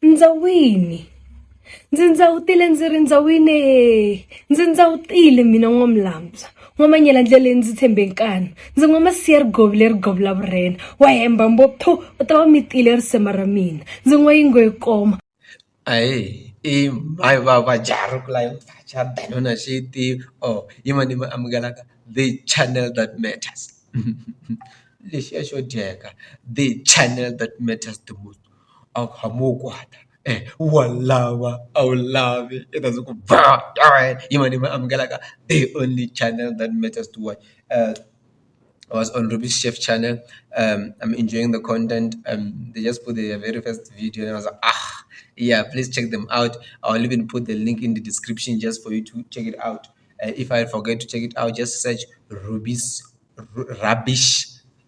Ndza wini ndzi ndza wu tile ndzi ri ndza wine ndzi ndza wu tile mina n'wamulambya n'wamanyela ndlele ndzi tshembe nkani ndzi n'wa masiya ri govi leri govi la vurhena wa hemba mbo pho u ta va mi tile risema ra mina ndzi n'wa yingo yi koma ayi i mhayi va va jari ku la yi vacha danona xi yi tivi or yi ma ni ma amukelaka the channel that matters lexiya xo dyeka the channel that matters the most. a wu hamba u wu kwata wa ni lava a wu ni lavi i ta ndzi ku ba yima ni mi amukelaka the only channel that matters to watch I was on Robbie's Chef channel I'm enjoying the content they just put their very first video and I was like yeah please check them out I will even put the link in the description just for you to check it out if I forget to check it out just search Robbie's Rubbish.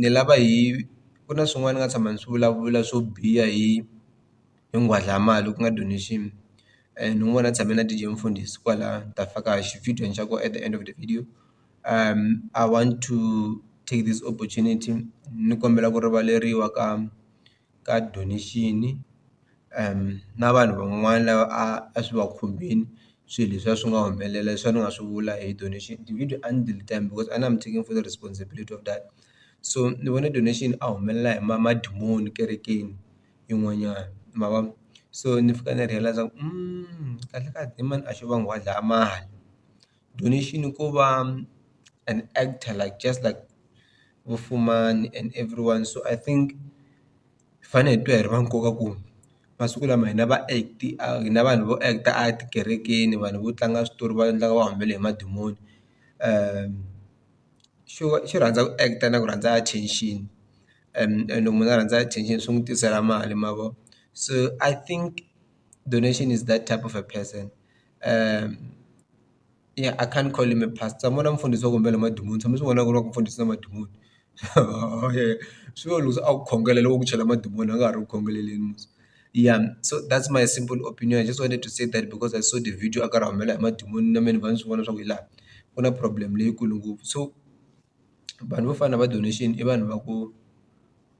ni lava hi ku na swin'wana ni nga tshama ni swi vulavula swo biha hi hi nghwadlamala ku nga donation ni n'wi vona a tshame na D_J Mfundisi kwala ni ta faka xi-video xa kona at the end of the video I want to take this opportunity ni kombela ku rivaleriwa ka. ka donation na vanhu van'wana lava a a swi va khumbini swilo leswi a swi nga humelela leswi a ni nga swi vula hi donation ti-video a ni delete because a I'm taking full responsibility of that so ni vone donation a humelela hi ma madimoni ekerekeni yin'wanyana ma vo so ni fika ni realize kahlekahle i mani a xo va a dlaya mali. donation ko va an actor like just like vo Fumani and everyone so I think hi fanele hi twa hi ri va nkoka ku masiku lama hina va act hina vanhu vo act a tikerekeni vanhu vo tlanga switori va endlaka va humelela hi madimoni xo xo rhandza ku act na ku rhandza attention and and loko munhu a rhandza attention swi n'wi tisela mali ma vo so I think donation is that type of a person. ya I can't call him a pastor ni vona mufundhisi wa ku humbela madimoni tshama ni swi vona ku ri va ku mfundhisi na madimoni swi vula loko se a ku khongela loko ku chela madimoni a nga ha ri ku khongeleni ya so that's my simple opinion I just wanted to say that because I saw the video a karhi a humelela hi madimoni na mehe ni va ni swi vona swa ku hi laha ku na problem leyikulu ngopfu so vanhu vo fana na va donation i vanhu va ku.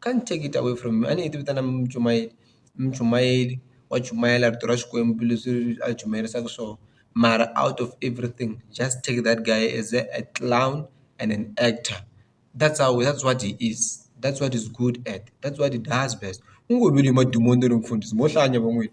can't take it away from you a ni yi vitana muchumayeri muchumayeri wa chumayela rito ra Xikwembu leswi a hi chumayerisaka swona mara out of everything just take that guy as a clown and an actor that's how that's what he is that's what he's good at that's what he does best u ngo vile madimoni ni ri mfundhisi mo hlaya nyana va n'wina.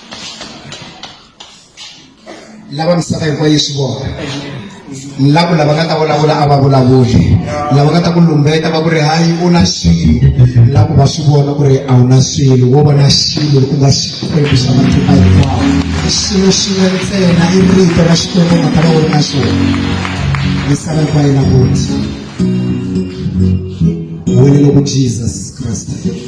lava misava hinkwayo yi swi vona ni lava lava nga ta vulavula a va vulavuli lava nga ta ku lumbeta va ku ri hayi u na xilo ni lava ku va swi vona ku ri a wu na xilo wo vona xilo ku nga xikwembu xa matluka hinkwawo xilo xin'we ntsena i rito ra xikwembu nga ta va u ri na xona misava hinkwayo na vona wena loko jesus kreste